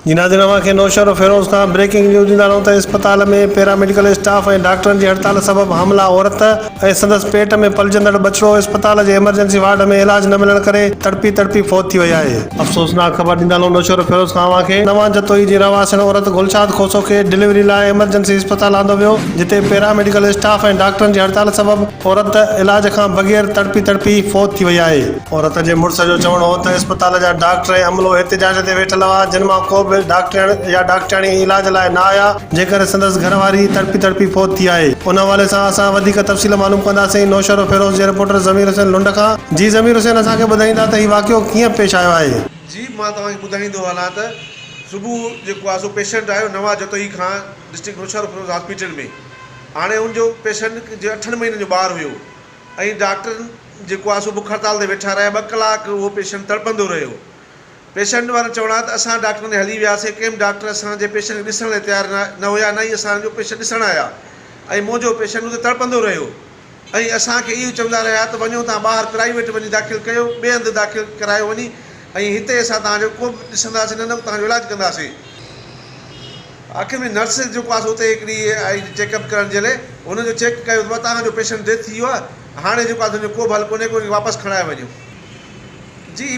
جي ناظرين اوهان کي نوشهرو فيروز کان بريڪنگ نيوز ڏيندا رهون ته اسپتال ۾ پيرا ميڊيڪل اسٽاف ۽ ڊاڪٽرن جي هڙتال سبب حاملا عورت ۽ سندس پيٽ ۾ پلجندڙ ٻچڙو اسپتال جي ايمرجنسي وارڊ ۾ علاج نه ملڻ ڪري تڙپي تڙپي فوت ٿي وئي آهي. افسوسناڪ خبر ڏيندا رهون نوشهرو فيروز کان اوهان کي نوان جتوئي جي رهواسين عورت گلشاد کوسو کي ڊليوري لاء ايمرجنسي اسپتال آندو ويو جتي پيرا ميڊيڪل اسٽاف ۽ ڊاڪٽرن جي هڙتال سبب عورت علاج کان بغير تڙپي تڙپي فوت ٿي وئي آهي. عورت جي مڙس جو چوڻ هو ته اسپتال جا ڊاڪٽر ۽ عملو احتجاج تي ويٺل هئا، جن مان ڪو به ڊاڪٽرياڻي يا ڊاڪٽرياڻي علاج لاء نه آيا، جنهن ڪري سندس گهر واري تڙپي تڙپي فوت ٿي آهي، ان حوالي سان اسان وڌيڪ تفصيل معلوم ڪنداسين، نوشهروفيروز جي رپورٽر ضمير حسين لنڊ کان، جي ضمير حسين اسان کي ٻڌائيندا ته هي واقعو ڪيئن پيش آيو آهي. جي مان توهان کي ٻڌائيندو هلان ته صبح جيڪو آهي سو پيشنٽ آيو نواز جتوئي کان ڊسٽرڪٽ نوشهروفيروز هاسپيٽل ۾ هاڻي ان جو پيشنٽ جي اٺن مهينن جو ٻار هيو ۽ ڊاڪٽر جيڪو آهي سو بک هڙتال تي ويٺا رهيا ٻه ڪلاڪ اهو پيشنٽ تڙپندو رهيو پيشنٽ وارن چوڻ آهي ته اسان ڊاڪٽرن ڏي هلي وياسين ڪي به ڊاڪٽر اسان جي پيشنٽ کي ڏسڻ لاء تيار نه هيا نه ئي اسان جو پيشنٽ ڏسڻ آيا ۽ منهنجو پيشنٽ اتي تڙپندو رهيو ۽ اسان کي اهو چوندا رهيا ته وڃو تان ٻاهر پرائيويٽ وڃي داخل ڪيو ٻئي هنڌ داخل ڪرايو وڃي ۽ هتي اسان توهان جو ڪو به ڏسنداسين نه نه توهان جو علاج ڪنداسين. آخر ۾ نرس جيڪو آهي سو اتي هڪ ڏينهن آئي چيڪ اپ ڪرڻ جي لاء هن جو چيڪ ڪيو ته توهان جو پيشنٽ ڊيٿ ٿي ويو آهي هاڻي جيڪو آهي سو ان جو ڪو به حل ڪونهي ڪو ان کي واپس کڻائي وڃو جي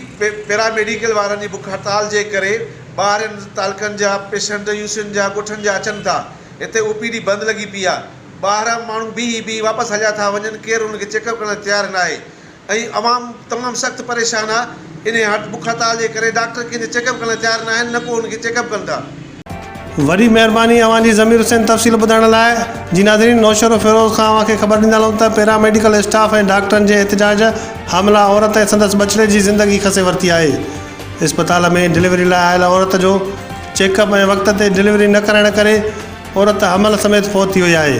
پيرا ميڊيڪل وارن جي بک هڙتال جي ڪري ٻاهرين تعلقن جا پيشنٽ يو سين جا ڳوٺن جا اچن ٿا هتي او پي ڊي بند لڳي پئي آهي ٻاهران ماڻهو بيهي بيهي واپس هليا ٿا وڃن ڪير انهن کي چيڪ اپ ڪرڻ لاء تيار ناهي ۽ عوام تمام سخت پريشان آ انهي هٽ بک هڙتال جي ڪري ڊاڪٽر ڪنهن جو چيڪ اپ ڪرڻ لاء تيار نه آهن نه ڪو ان کي چيڪ اپ ڪندا. وڏي مهرباني اوهان جي ضمير حسين تفصيل ٻڌائڻ لاء جي ناظرين نوشهرو فيروز کان اوهان کي خبر ڏيندا هلون ته پيراميڊيڪل اسٽاف ۽ ڊاڪٽرن جي احتجاج حامله عورت ۽ سندس ٻچڙي جي زندگي کسي ورتي آهي اسپتال ۾ ڊليوري لاء آيل عورت جو چيڪ اپ ۽ وقت تي ڊليوري نه ڪرائڻ ڪري عورت حمل سميت فوت ٿي وئي آهي.